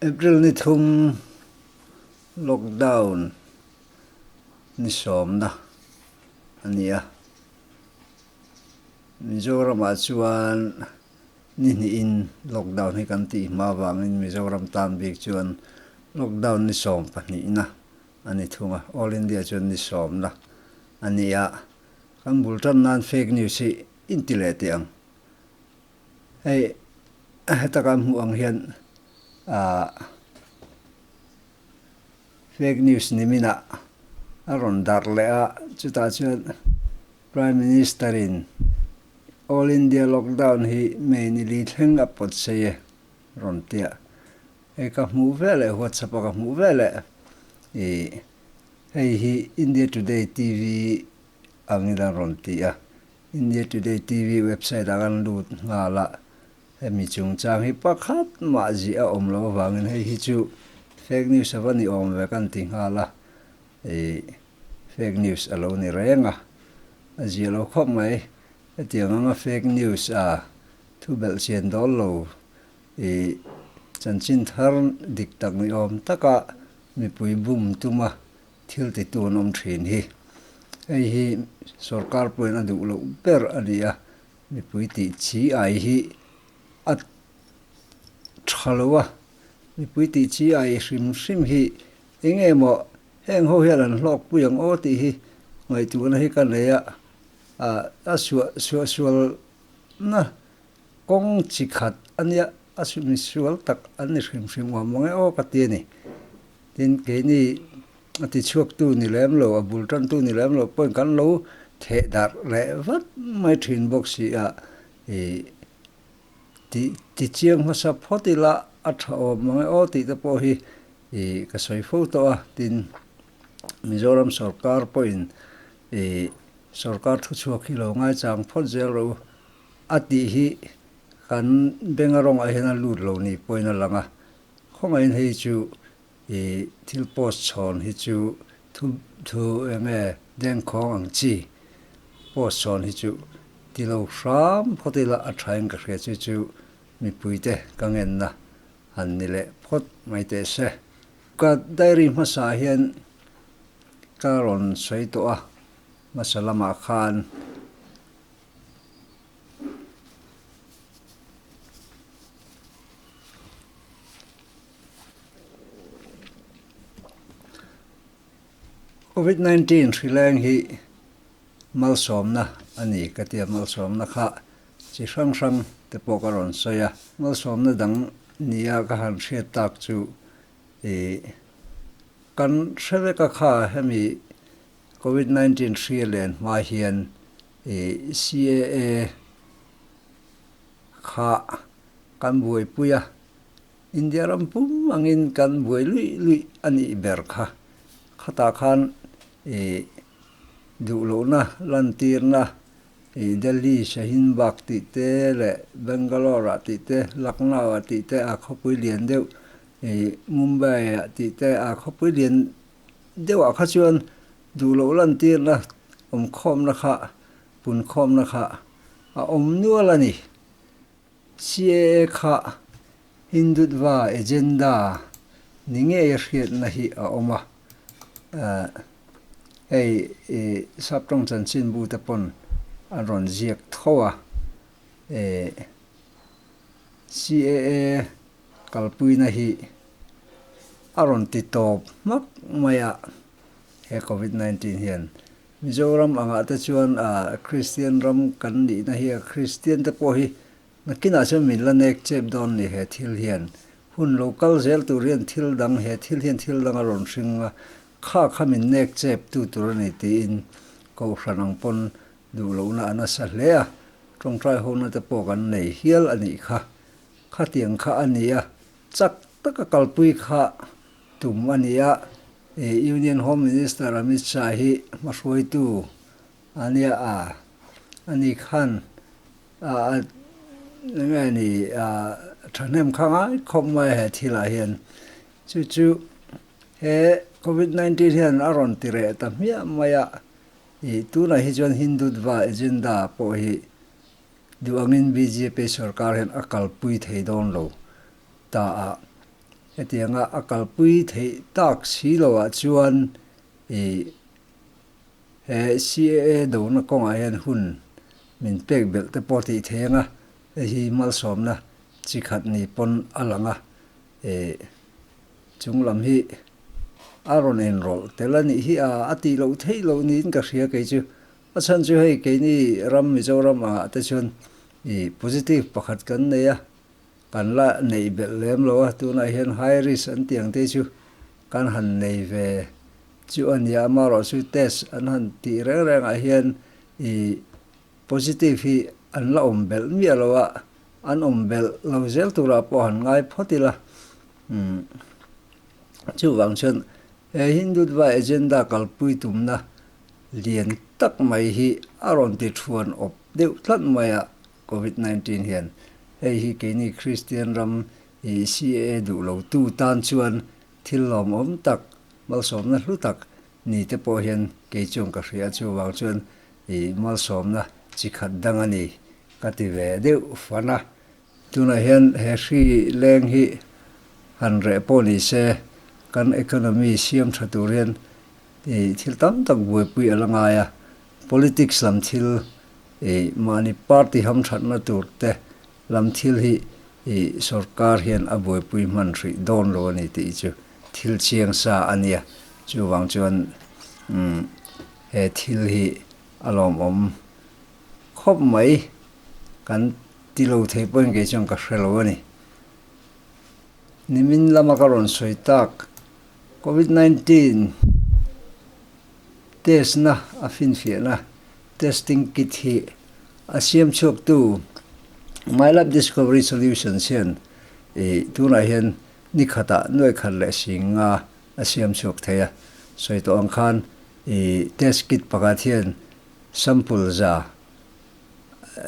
April ni thum lockdown ni sawmna a ni a, Mizoramah chuan ni hnihin lockdown hi kan tih hma vangin Mizoram tan bik chuan lockdown ni sawm pahnihna a ni thung a, All India chuan ni sawmna a ni a. Kan bul tan nan fake news hi in ti leh teh ang. Hei heta kan hmuh ang hian ah fake news nimin ah a rawn dar leh a, chutah chuan Prime Minister in All India lockdown hi May ni li thleng a pawt sei e rawn tia. Hei ka hmuh ve leh WhatsApp a ka hmuh ve leh i hei hi India Today TV ang in an rawn ti a, India Today TV website ah kan lut nghal a hemi chungchang hi pakhat mahzia a awm lo avangin hei hi chu fake news a va ni awm ve kan ti nghal a, i fake news a lo ni reng a, a ziah lo khawp mai hetiang anga fake news a thu belh chian dawl lo. I chanchin thar dik tak ni awm taka mipui bum tuma thil ti tu an awm thin hi, hei hi sorkar pawhin a duh loh ber a ni a, mipui tih chi ai hi a tha lo a, mipui tih chi ai hrim hrim hi eng nge maw heng ho hian an hlawk pui ang aw tih hi ngaihtuhna hi ka nei a, a suah sual na. Kawng chi khat a nia, a sumi sual tak an ni hrim hrim awm awm e aw ka ti a ni. Tin, keini a tichhuaktu ni lem lo, a bul tantu ni lem lo pawn kan lo theh darh leh vat mai thin bawk si a, i ti ti chiang hmasa phawt ila a tha awm awm e aw tih te pawh hi i ka sawi fo tawh a. Tin, Mizoram sawrkar pawhin i sawrkar thuchhuak hi lo ngaichang phawt zel ro u, A tih hi kan benga rawngah hian a lut lo nih pawhin a lang a, khawngaihin hei chu i thil post chhawn hi chu thu thu enge dengkhawng ang chi post chhawn hi chu ti lo hram phawt ila a thain ka hria chu chu mipuite ka ngenna han ni leh phawt mai teh se. Ka diary hmasah hian ka rawn sawi tawh a, hmasa lamah khan. covid nineteen hrileng hi malsawmna a ni ka tia malsawmna kha chi hrang hrang te pawh ka rawn sawi a malsawmna dang nia ka han hriat tak chu ih kan hre vek a kha hemi covid nineteen hria len hma hian I CAA kha kan buaipui a, India ram pum angin kan buai luih luih a nih ber kha, khatah khan i duh lohna lantirna i Delhi, Shaheen Bagh tih te leh Bangalore-ah tih te, Lucknow-ah tih te aa khawpui lian deuh, i Mumbai-ah tih te aa khawpui lian deuhah kha chuan Duh loh lantirna awm khawmna kha pun khawmna kha a awm nual a ni. CAA kha Hindutva agenda ni ngei a hriatna hi a awm a, hei Saptawng Chanchinbu te pawn an rawn ziak tho a, CAA kalpuina hi a rawn ti tawp hmak mai a. He Covid nineteen hian Mizoram angah te chuan Kristian ram kan nihna hi a Kristian te pawh hi nakinah chuan min la nek chep dawn ni he thil hian hun lo kal zel tur hian thil dang he thil hian thil dang a rawn hring a kha kha min nek chep tu tur a ni tiin kohhran ang pawn duh lohna a nasa hle a tawngtai hona te pawh kan nei hial a nih kha khatiang kha a nia chak taka kalpui kha tum a ni a, Union Home Minister Amit Shah hi hmahruaitu a nia a, a ni khan a nge a ni a thahnem kha ngai khawp mai a he thilah hian chu chu he Covid nineteen hian a rawn ti reh ta hmiah mai a, ih tunah hi chuan Hindutva agenda pawh hi duh angin bjp sorkar hian a kalpui thei dawn lo ta a. Hetianga a kalpui theih tak si lo ah chuan i he CAA dona kawngah hian hun min pek belh te pawh tih theng a hi malsawmna chi khat ni pawn a lang a, i chung lam hi a rawn en rawlh tel a nih hi a, a tih loh theih loh niin ka hria kei chu. A chhan chu hei keini ram Mizoram ah te chuan i positive pakhat kan nei a, Kan la neih belh lem lo a, tunah hian high risk an tih ang te chu kan han nei ve chu a nia, amaherawh chu test an han tih reng rengah hian ih positive hi an la awm belh miah lo a, an awm belh lo zel turah pawh han ngai phawt ila. Chuvang chuan he Hindutva agenda kalpui tumna lian tak mai hi a rawn ti ṭhuan awp deuh tlat mai a, Covid nineteen hian hei hi keini Kristian ram i CAA duh lo tu tan chuan thil lawm awm tak, malsawmna hlu tak ni te pawh hian kei chuan ka hria a, chu vang chuan i malsawmna chi khat dang a ni ka ti ve deuh fan a. Tunah hian he hri leng hi han reh pawh ni se, kan economy siam tha tur hian i thil tam tak buaipui a la ngai a, Politics lam thil i mahni party hamthatna tur te lam thil hi i sorkar hian a buaipui hman hrih dawn lo a ni tih chu thil chiang sa a nia. Chuvang chuan umm he thil hi a lawmawm khawp mai kan ti lo thei pawhin kei chuan ka hre lo a ni. Nimin lama ka rawn sawi tak covid nineteen. Testna a finfiahna, testing kit, hi a siam chhuaktu MyLab Discovery Solutions hian i tunah hian ni khatah nuai khat leh sing nga a siam chhuak thei a, sawi tawh ang khan i test kit pakhat hian sample za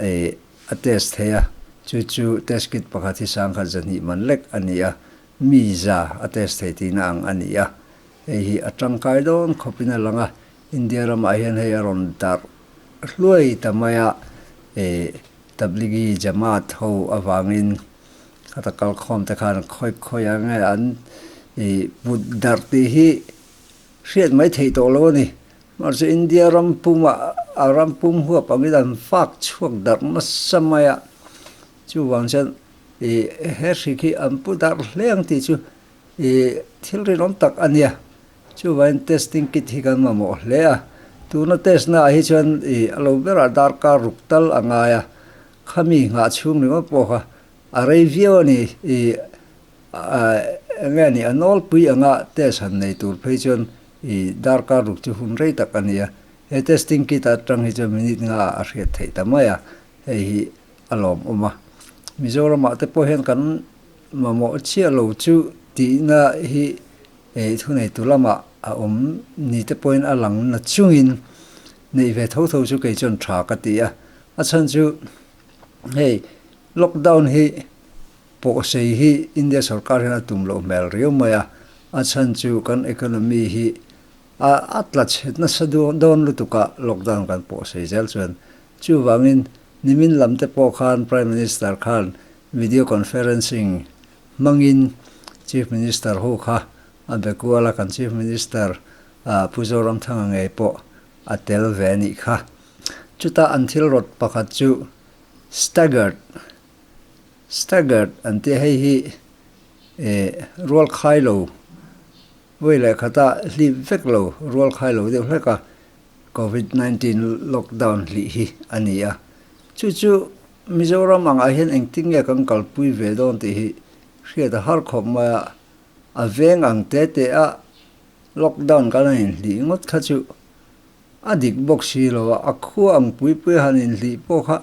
i a test thei a, chu chu test kit pakhat hi sangkhat zahnih man lek a ni a, mi za a test thei tihna ang a ni a. Hei hi a tangkai dawn khawpin a lang a, India ramah hian hei a rawn darh hluai ta mai a, Tablighi Jamaat ho avangin heta kalkhawmte khan khawih khawih ang nge an put darh tih hi hriat mai theih tawh lo a ni. Mar chu India ram pumah a ram pum huap angin an fak chhuak darh nasa mai a, chuvang chuan he hrik hi an pu darh hle ang tih chu, Ih, thilri lawm tak a nia. Chuvain testing kit hi kan mamawh hle a. Tuna test naah hi chuan ih a lo berah dar kar ruk tal a ngai a. Khami nghah chhung ringawt pawh kha a rei viau a ni. Ih, ah, eng nge a nih? A nawlpui anga test han nei tur phei chuan ih dar kar ruk chu hun rei tak a ni a. He testing kit a tang hi chuan minute nga ah a hriat theih ta mai a. Hei hi a lawmawm a. Mizoramah te pawh hian kan. Mamawh chiah lo chu tihna hi eih thuneitu lamah a awm ni te pawhin a lang na chungin neih ve tho tho chu kei chuan tha ka ti a. A chhan chu hei lockdown hi pawhsei hi India sorkar hian a tum loh hmel riau mai a, a chhan chu kan economy hi a a tla chhet nasa dawn lutukah lockdown kan pawhsei zel chuan chuvangin nimin lam te pawh khan Prime Minister khan Video conferencing hmangin Chief Minister ho kha a be kual a, kan Chief Minister Pu Zoramthanga ngei pawh a tel ve a nih kha. Chutah an thil rawt pakhat chu staggered, staggered an ti a, hei hi eh rual khai lo vawi leh khata hlip vek lo, rual khai lo deuh hlek a Covid nineteen lockdown hlih hi a ni a, chu chu Mizoram angah hian engtin nge kan kalpui ve dawn tih hi hriat a har khawp mai a, a veng ang te teha lockdown kan han inhlih ngawt kha chu a dik bawk si lo a, a khua ang pui pui a han inhlih pawh kha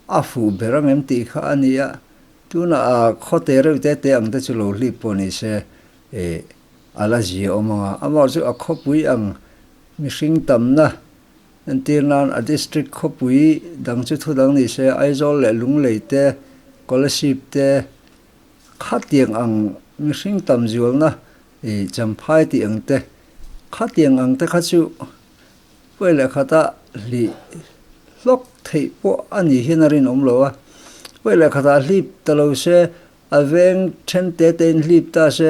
a fuh ber ang em tih kha a ni a, tunah a khaw te reuh te te ang te chu lo hlip pawh ni se e, a la zia awm ang a, amaw chu a khawpui ang mihring tamna, Kan tir nan a district khawpui dang chu thudang ni se Aizawl leh Lunglei te, Kolasib te khatiang ang mihring tam zualna i Champhai tih ang te khatiang ang te kha chu Puai leh khata hli hlawk theih pawh a nih hian a rinawm lo a, Puai leh khata hlip ta lo se a veng then te te in hlip ta se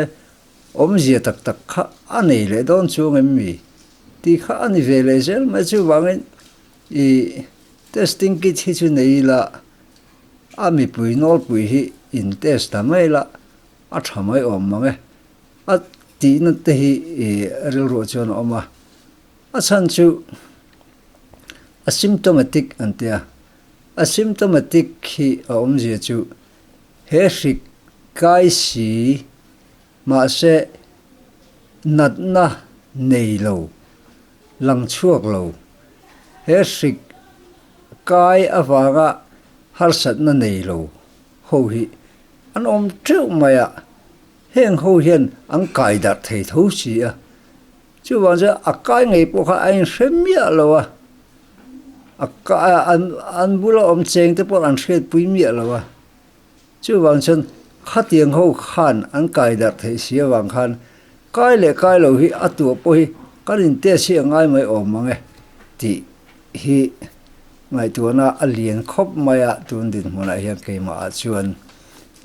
Awmzia tak tak kha a nei leh dawn chuang em mi? Tih kha a ni ve leh zel mai. Chuvangin i testing kit hi chu nei ila, a mipui nawlpui hi in test ta mai ila, a tha mai awm mang e. A tihna te hi i rilruah chuan a awm a. A chhan chu asymptomatic an tia. Asymptomatic hi a awmzia chu He hrik kai si, mahse natna nei lo, lang chhuak lo. He hrik kai avanga harsatna nei lo ho hi an awm teuh mai a, heng ho hian an kaidarh thei tho si a, Chuvang chuan a kai ngei pawh kha a inhre miah lo a, a kai an an bula awm cheng te pawh an hriatpui miah lo a, chuvang chuan khatiang ho khan an kai darh theih si avang khan kai leh kai lo hi a tuah pawh hi kan in test hi a ngai mai awm ang e tih hi ngaihtuahna a lian khawp mai a tun dinhmunah hian keimahah chuan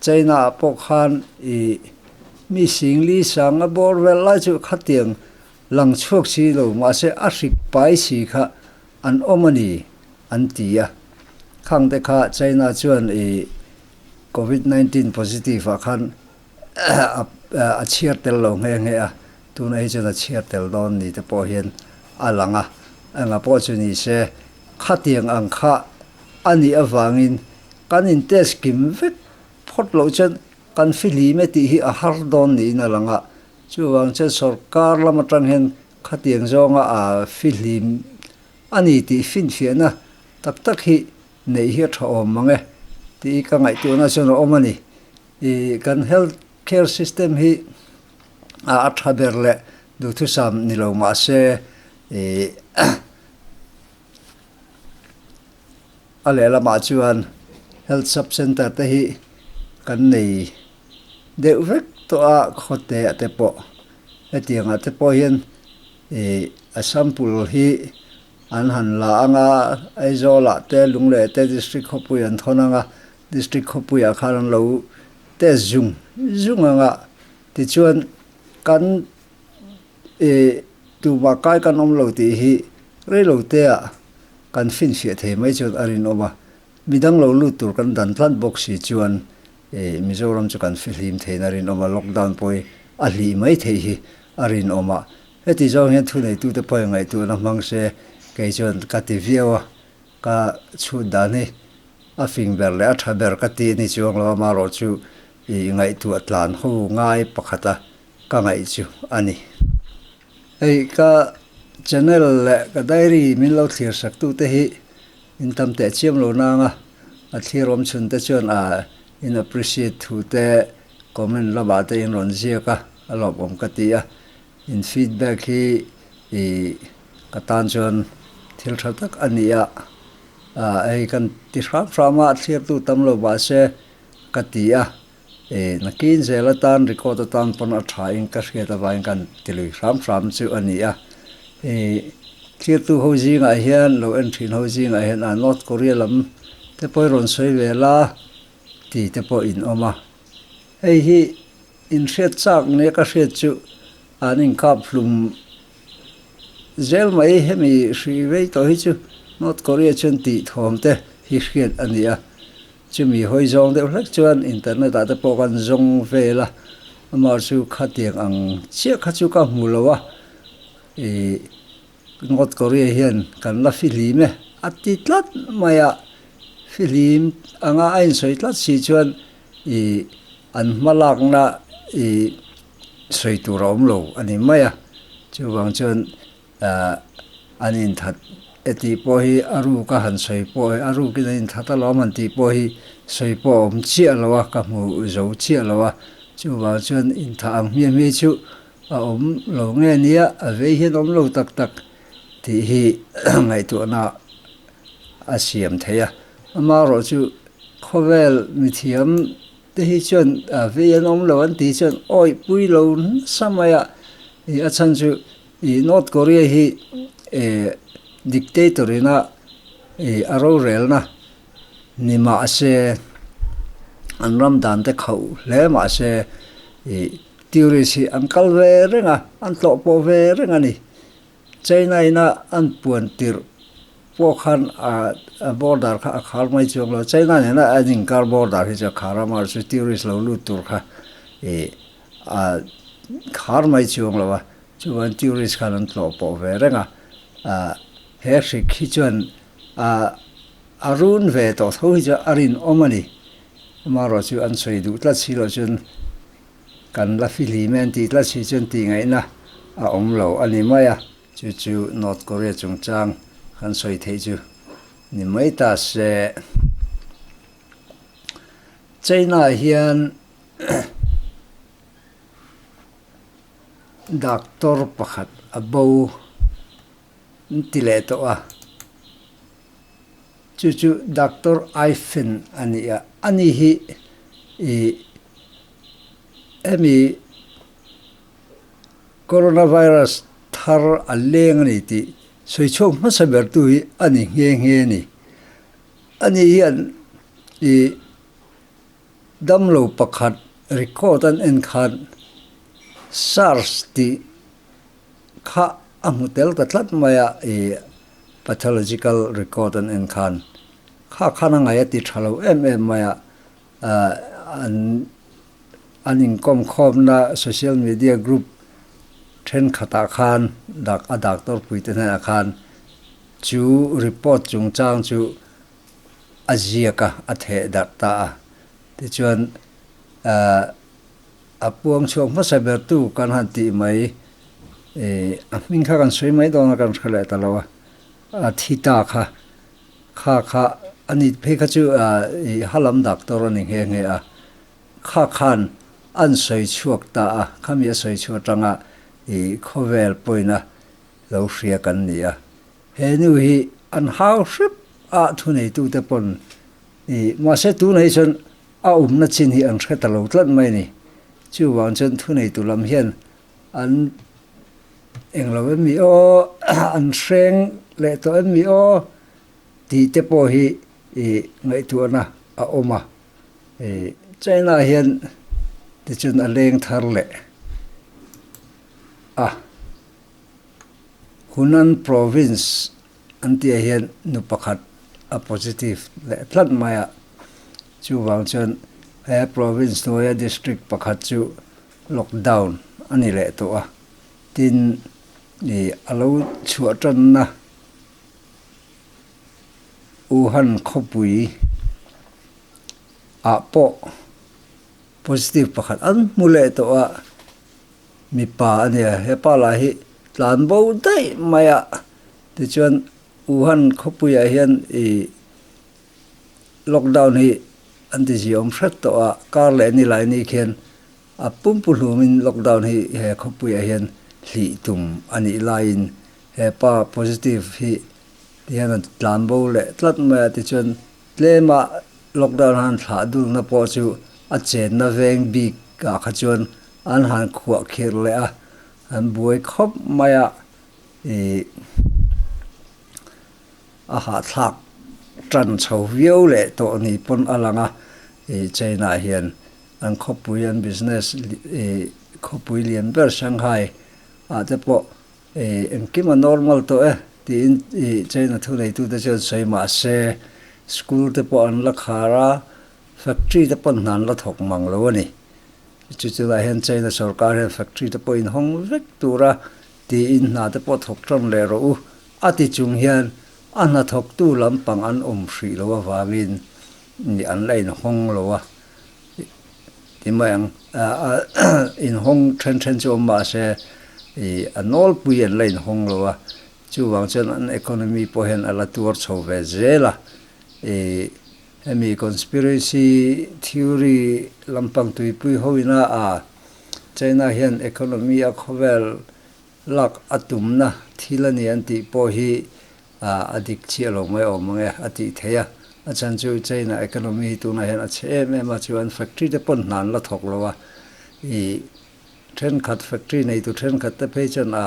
China ah pawh khan i mi sing li sang a bawr velh lai chu khatiang lang chhuak si lo mahse a hrik pai si kha an awm a ni an ti a. Khang te kha China chuan i Covid nineteen positive ah khan a chhiar tel lo nghe nghe a. Tun ei chuan a chhiar tel dawn ni te pawh hian a lang a, eng pawh chu ni se, khatiang ang kha a nih avangin kan in test kim vek phawt loh chuan kan fihlim e tih hi a har dawn niin a lang a, chuvang chuan sorkar lam atang hian khatiang zawnga a fihlim a ni tih finfiahna tak tak hi neih hi a tha awm mang e tih ka ngaihtuahna chuan a awm a ni. I kan health care system hi a tha ber leh duhthusam ni lo mah se i a leh lamah chuan health sub centre te hi kan nei deuh vek tawh a khawte ah te pawh hetiang ah te pawh hian i a sample hi an han la ang a Aizawl ah te Lungleh te district khawpui an thawn ang a. District khawpuiah khan an lo test zung zung ang a, tichuan kan eh tumah kai kan awm lo tih hi reilo tea kan fin hriat thei mai chuan a rinawm a, midang lo lut tur kan dan tlat bawk si chuan eh Mizoram chu kan fihlim theihna a rinawm a, lockdown pawhi a hlih mai theih hi a rinawm a, heti zawng hian thuneitute pawhin ngaihtuahna hmang se kei chuan ka ti viau a. Ka chhut dan hi a fing ber leh a tha ber ka ti ni chuang lo a, marawh chu i ngaihtuah tlan ho ngai pakhata ka ngaih chu a ni. Hei ka channel leh ka diary min lo thlir sak tu te hi in tam teh chiam lo nang a, a thlir awm chhun te chuan a in appreciate thu te comment lamah te in rawn ziak a, a lawmawm ka ti a. In feedback hi ih ka tan chuan thil tha tak a ni a, ah hei kan ti hram hram a, a thliartu tam lo mahse ka ti a, ih nakin zel atan record atan pawn a tha in ka hriat avangin kan ti lui hram hram chu a ni a, ih thliartu ho zingah hian lo en thin ho zingah hian ah North Korea lam te pawh hi rawn sawi ve la tih te pawh in awm a, hei hi In hriat chak nge ka hriat chu an inkap hlum zel mai hemi hri rei tawh hi chu North Korea chuan tih thawm te hi hriat a ni a, chumi hawi zawng deuh hlek chuan internet ah te pawh kan zawng vel a, amah chu khatiang ang chiah kha chu ka hmu lo a, ih. North Korea hian kan la fihlim e a ti tlat mai a, fihlim anga a insawi tlat si chuan i an hma lakna i sawi tur a awm lo a ni mai a, chuvang chuan an inthat e tih pawh hi a ruk a han sawi pawh e, a rukin an inthat a lawm han tih pawh hi sawi pawh a awm chiah lo a, ka hmu zo chiah lo a, chuvang chuan inthah ang hmiah hmiah hi chu A awm lo nge nia, a vei hian a awm lo tak tak tih hi ngaihtuahna a siam theih a. Amaherawh chu khawvel mithiam te hi chuan a vei an awm lo an tih chuan awihpui lo nasa mai a. I a chhan chu i North Korea hi e dictator ina e a rorelna ni mahse an ram dan te khauh hle mahse i Tourist hi an kal ve reng a, an tlawh pawh ve reng a ni. China ina an puan tirh pawh khan a border kha a khar mai chuang lo. China nena an inkar border hi chuan khar a mar chu tourist lo lut tur kha ih a khar mai chuang lo a, chuan tourist khan an tlawh pawh ve reng a. Aa he hrik hi chuan aa a run ve tawh tho hi chuan a rinawm a ni. Amarawh chu an sawi duh tlat si loh chuan kan la fi hlim e an tih tlat si chuan tihngaihna a awm lo a ni mai a, chu chu North Korea chungchang kan sawi theih chu ni mai ta se. China hian doctor pakhat a bo an ti leh tawh a. Chu chu Doctor Ifen a ni a, ani hi i emi Coronavirus thar a leng a ni tih sawi chhuak hmasa ber tu hi a ni nghe nghe a ni. Ani hian i damlo pakhat record an en khan Sars tih Kha a hmu tel ta tlat mai a, i pathological record an en khan kha khan a ngai a ti tha lo em em mai a, an an inkawm khawmna social media group thenkhat ah khan dak a doctor pui te hnenah khan chu report chung chang chu a ziak a, a theh darh ta a, tichuan A puang chhuak hmasa bertu kan han tih mai e, a hming kha kan sawi mai dawn a kan hre leh ta lo a. A thi ta kha kha kha a ni phei kha chu a i ha lam doctor a ni nghe nghe a. Kha khan an sawi chhuak ta a, khami a sawi chhuak tanga i khawvel pawin a lo hria kan ni a. He nu hi an hau hrep a thu neitute pawn i mahse tunei chuan A awmna chin hi an hre ta lo tlat mai a ni. Chuvang chuan thuneitu lam hian an eng lo em ni aw, an hreng leh tawh em ni aw tih te pawh hi ngaihtuahna a awm a. China-ah hian tichuan a leng thar leh a, Hunan Province An tihah hian nu pakhat a positive leh tlat mai a, chuvang chuan he province hnuaia district pakhat chu lockdown a ni leh tawh a, tin i a lo chhuah tanna Wuhan khawpui ah pawh positive pakhat an hmu leh tawh a, Mipa a nia, hepa lah hi tlan bo daih mai a, tichuan Wuhan khawpuiah hian i lockdown hi an ti ziawm hret tawh a, kar leh ni lai ni khian a pum pu hlumin lockdown hi he khawpuiah hian hlih tum a nih laiin hepa positive hi ti hian a tlan bo leh tlat mai a, tichuan Tlema lockdown han thlah durna pawh chu a chenna veng bik ah kha chuan an han khuah khirh leh a, an buai khawp mai a, ih a hahthlak tan chho viau leh tawh ni pawn a lang a, ih cheinah hian an khawpui an business ih khawpui lian ber Shanghai ah te pawh Eh, engkim a normal tawh e, tiin i China thu neitute chuan sawi mah se, school te pawh an la khar a, factory te pawh hnan la thawk mang lo a ni. Chu chunah hian China sorkar hian factory te pawh inhawng vek tur a, tiin hna te pawh thawk tan leh rawh u, a ti chung hian a hnathawktu lampang an awm hrih loh avangin an la inhawng lo a. Ti mai ang. Inhawng ṭhen ṭhen chu a awm mahse, a nawlpui an la inhawng lo a. Chuvang chuan an economy pawh hian a la tuar chho ve zel a. Hemi conspiracy theory lampang tuipui ho ina a, China hian economy a khawvel lak a tumna thil a ni an tih pawh hi, a a dik chiah lo mai awm ang e a tih theih a, a chan chu China economy hi tunah hian a chhe em em a chuan factory te pawn hna an la thawk lo a, i thenkhat factory nei tur thenkhat te phei chuan a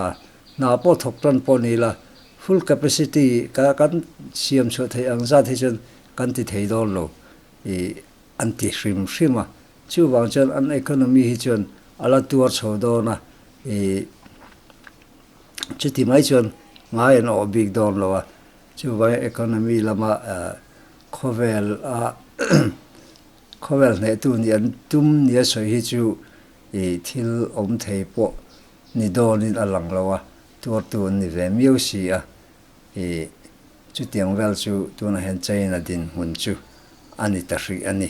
hna pawh thawk tan pawh ni ila full capacity ka kan siam chhuah theih ang zat hi chuan kan ti thei dawn lo i an ti hrim hrim a, chuvang chuan an economy hi chuan a la tuar chho dawn a i. Chuti mai chuan ngai an awh bik dawn lo a, chuvangin economy lama khawvel a khawvel hnehtu nih an tum nia sawi hi chu i thil awm thei pawh ni dawnin a lang lo a, tuartu an ni ve miau si a, i chutiang vel chu tunah hian China dinhmun chu a ni ta hrih a ni.